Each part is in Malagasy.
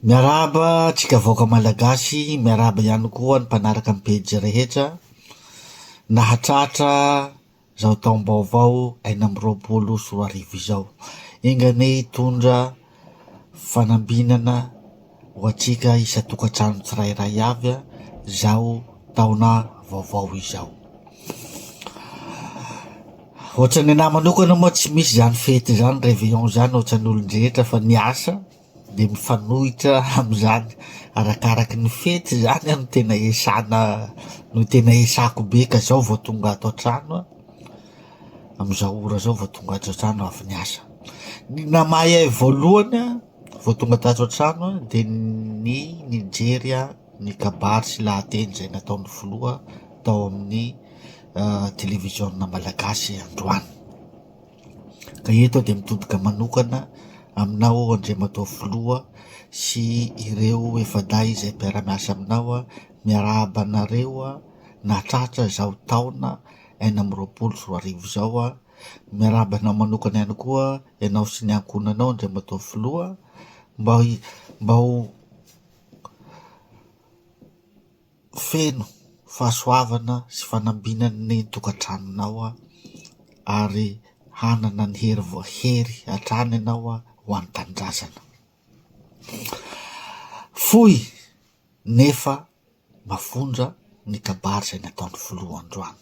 Miarahaba antsika vahoaka malagasy, miarahaba ihany koa ny mpanaraka ny pejy rehetra, nahatratra izao taom-baovao enina amby roapolo sy roa arivo izao, enga anie hitondra fanambinana ho antsika isan-tokantrano tsirairay avy izao taona vaovao izao. Ohatran'ny ahy manokana moa tsy misy izany fety izany, réveillon izany ohatran'ny olon-drehetra fa ny asa dia mifanohitra amin'izany. Arakaraky ny fety izany aho no tena iasana no tena iasako be ka izao vao tonga ato an-trano aho, amin'izao ora izao vao tonga ato an-trano avy niasa. Ny naha mahay ahy voalohany an! Vao tonga tato an-trano dia ny nijery ny kabary sy lahateny izay nataon'ny filoha tao amin'ny televiziona malagasy androany. Ka eto aho dia mitodika manokana aminao Andriamatoa Filoha sy ireo efa-dahy izay mpiara-miasa aminao, miarahaba anareo nahatratra izao taona enina amby roapolo sy roa arivo izao. Miarahaba anao manokana ihany koa ianao sy ny ankohonanao Andriamatoa Filoha. Mba mba ho feno fahasoavana sy fanambina ny tokantranonao ary hanana ny hery voahery hatrany ianao ho an'ny tanindrazana. Fohy nefa Mafonja ny kabary izay nataon'ny filoha androany.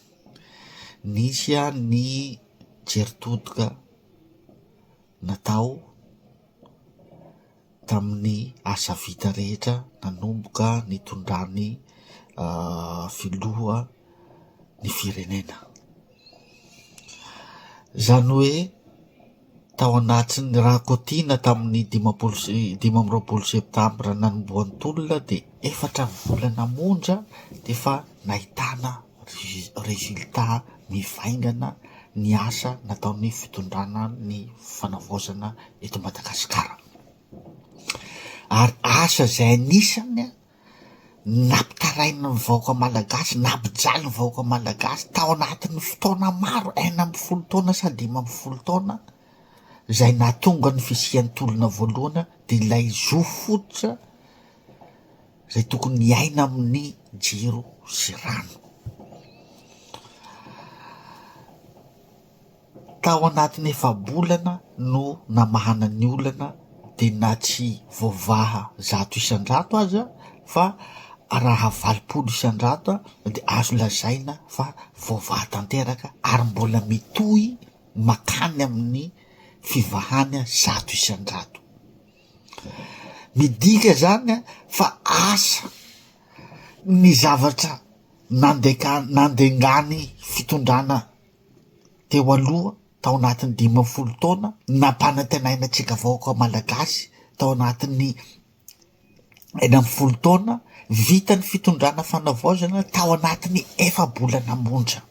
Nisy ny jery todika natao tamin'ny asa vita rehetra nanomboka nitondran'ny filoha ny firenena. Izany hoe. Tao anatin'ny Rakotina tamin'ny dimampolo sy dimy amby roapolo Septambra nanombohan'ny tolona dia efatra volana monja dia efa nahitana résultat mivaingana ny asa nataon'ny fitondrana ny fanavaozana eto Madagasikara. Ary asa izay anisany Nampitarain'ny vahoaka malagasy, nampijaly ny vahoaka malagasy tao anatin'ny fotoana maro, enina ambin'ny folo taona sa dimy ambin'ny folo taona, izay nahatonga ny fisian'ny tolona voalohana, dia ilay zo fototra izay tokony hiaina amin'ny jiro sy rano. Tao anatin'ny efa-bolana no namahana ny olana dia na tsy voavaha zato isan-jato aza fa raha valopolo isan-jato dia azo lazaina fa voavaha tanteraka ary mbola mitohy makany amin'ny fivahana zato isan-jato. Midika izany fa asa ny zavatra nandeka- nandengany fitondrana teo aloha tao anatin'ny dimy ambin'ny folo taona nampanantenaina antsika vahoaka malagasy tao anatin'ny enina ambin'ny folo taona vita ny fitondrana fanavaozana tao anatin'ny efa-bolana monja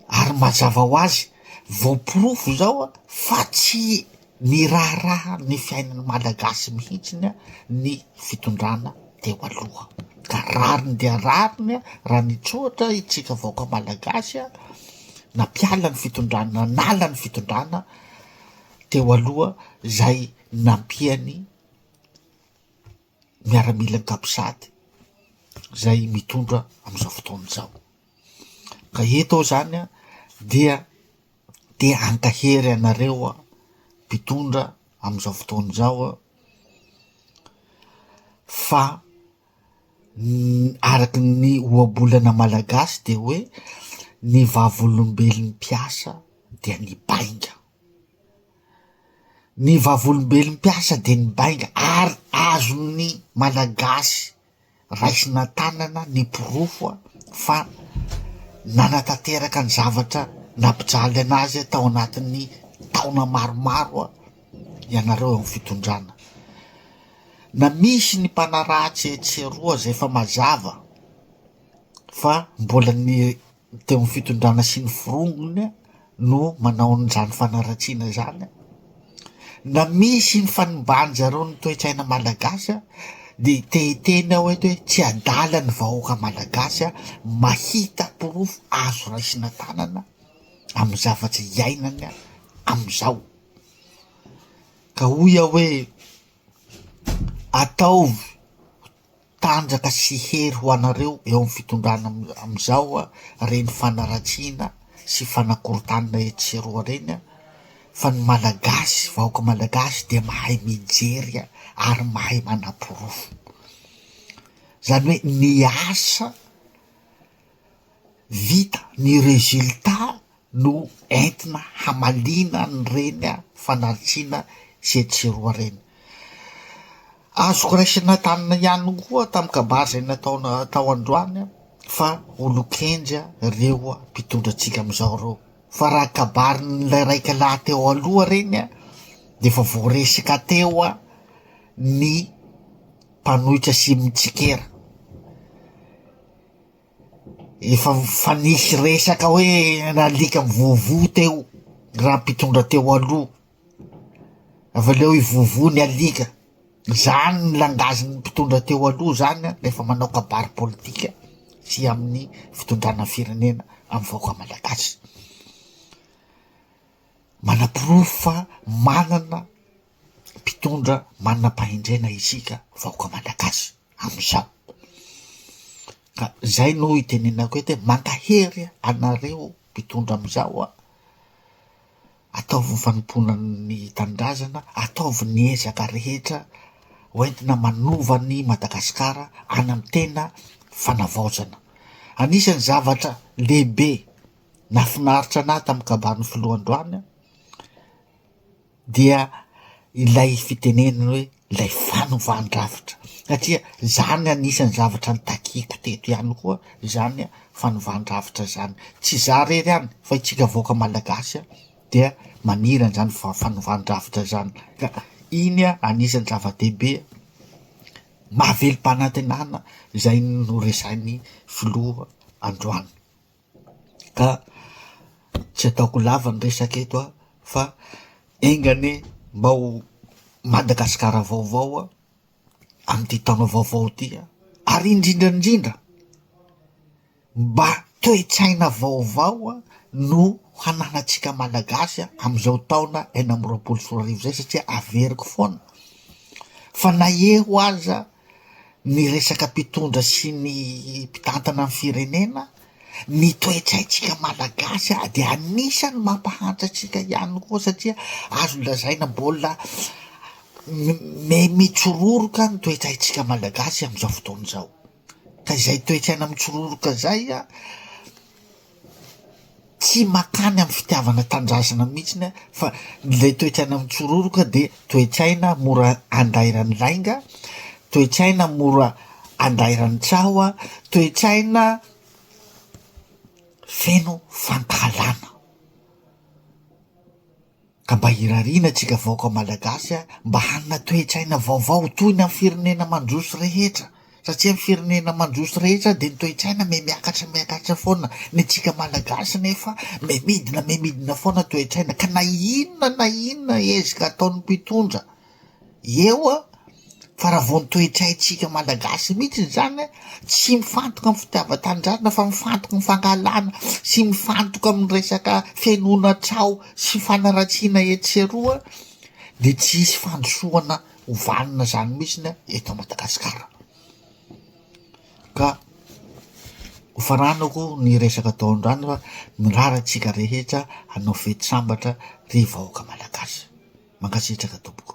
ary mazava ho azy voaporofo izao fa tsy Niraharaha ny fiainan'ny Malagasy mihitsy ny fitondrana teo aloha, ka rariny dia rariny raha nitsoatra isika vahoaka Malagasy nampiala ny fitondrana, nanala ny fitondrana teo aloha izay nampiany miaramila ankapsady izay mitondra amin'izao fotoana izao. Ka eto aho izany dia Te hankahery anareo aho mpitondra amin'izao fotoana izao aho fa araka ny ohabolana malagasy dia hoe ny vavolombelon'ny mpiasa dia ny bainga, ny vavolombelon'ny mpiasa dia ny bainga ary azon'ny malagasy. Raisina an-tanana ny porofo fa nanatanteraka ny zavatra nampijaly an'azy tao anatin'ny taona maromaro ianareo eo amin'ny fitondrana. Na misy ny mpanaratsy etsy sy eroa izay efa mazava fa mbola ny dia ny fitondrana sy ny forongony no manao an'izany fanaratsiana izany an! na misy ny fanimbàny zareo ny toe-tsaina malagasy an! dia te hiteny aho eto hoe tsy adala ny vahoaka malagasy an! mahita porofo azo raisina tanana amin'ny zavatra iainany an! amin'izao ka hoy aho hoe ataovy Tanjaka sy hery ho anareo eo amin'ny fitondrana amin'izao reny fanaratsiana sy fanakorontanina etsy sy eroa reny fa ny Malagasy, vahoaka Malagasy dia mahay mijery ary mahay manaporofo. Izany hoe ny asa vita, ny résultat. no entina hamaliana an'ireny fanaritsiana sy etsy sy eroa ireny. Azoko raisina tany ihany koa tamin'ny kabary izay nataona tao androany fa olon-kendry ireo mpitondra antsika amin'izao ireo. Fa raha kabarin'ilay raika lahy teo aloha ireny dia efa voaresaka teo ny mpanohitra sy mitsikera. Efa fa nisy resaka hoe nalika mivovo teo raha mpitondra teo aloha. Avy aleo i vovo ny alika. Zany ny langage ny mpitondra teo aloha zany rehefa manao kabary politika sy amin'ny fitondrana firenena amin'ny vahoaka malagasy. Manaporofo fa manana mpitondra manam-pahendrena isika vahoaka Malagasy amin'izao. Ka izay no itenenako eto hoe mankahery anareo mpitondra amin'izao a! ataovy ny fanompoana ny tanindrazana, ataovy ny ezaka rehetra ho entina manova ny Madagasikara any amin'ny tena fanavaozana. Anisan'ny zavatra lehibe nafinaritra anahy tamin'ny kabarin'ny filoha androany dia ilay fitenenana hoe ilay fanovan-drafitra satria izany no anisan'ny zavatra nitakiako teto ihany koa izany fanovan-drafitra izany, tsy izaho irery ihany fa isika vahoaka malagasy dia maniry an'izany fanovan-drafitra izany ka iny anisan'ny zava-dehibe mahavelom-panantenana izay noresahin'ny filoha androany. Ka tsy ataoko lava ny resaka eto aho fa enga anie mba ho Madagasikara vaovao aho amin'ity taona vaovao ity an, ary indrindra indrindra mba toe-tsaina vaovao an no hananantsika Malagasy an amin'izao taona enina amby roapolo sy roa arivo izay satria averiko foana fa na eo aza. ny resaka mpitondra sy ny mpitantana ny firenena, ny toetsaintsika malagasy ary dia anisany mampahantra antsika ihany koa satria azo lazaina mbola mitsororoka ny toetsaintsika malagasy amin'izao fotoana izao, ka izay toetsaina mitsororoka izay an, Tsy mankany amin'ny fitiavana tanindrazana mihitsiny aho fa ilay toe-tsaina mitsororoka dia toe-tsaina mora andairan'ny lainga, toe-tsaina mora andairan'ny tsaho, toe-tsaina feno fankahalana. Ka mba irariana antsika vahoaka malagasy a, mba hanana toe-tsaina vaovao toy ny amin'ny firenena mandroso rehetra, satria amin'ny firenena mandroso rehetra dia ny toe-tsaina mihamiakatra miakatra foana, ny antsika malagasy nefa mihamiidina mihamiidina foana toe-tsaina, ka na inona na inona ezka ataon'ny mpitondra, Eo a! fa raha vao ny toetraintsika Malagasy mihitsy zany a, tsy mifantoka amin'ny fitiavan-tanindrazana fa mifantoka amin'ny fankahalana sy mifantoka amin'ny resaka fenoana trao sy fanaratsiana etsy sy eroa de tsy hisy fandrosoana ho vanona zany mihitsy ny eto Madagasikara. Ka hofaranako ny resaka tao an-drano fa mirary antsika rehetra hanao fety sambatra ry vahoaka Malagasy. Mankasitraka tompoko.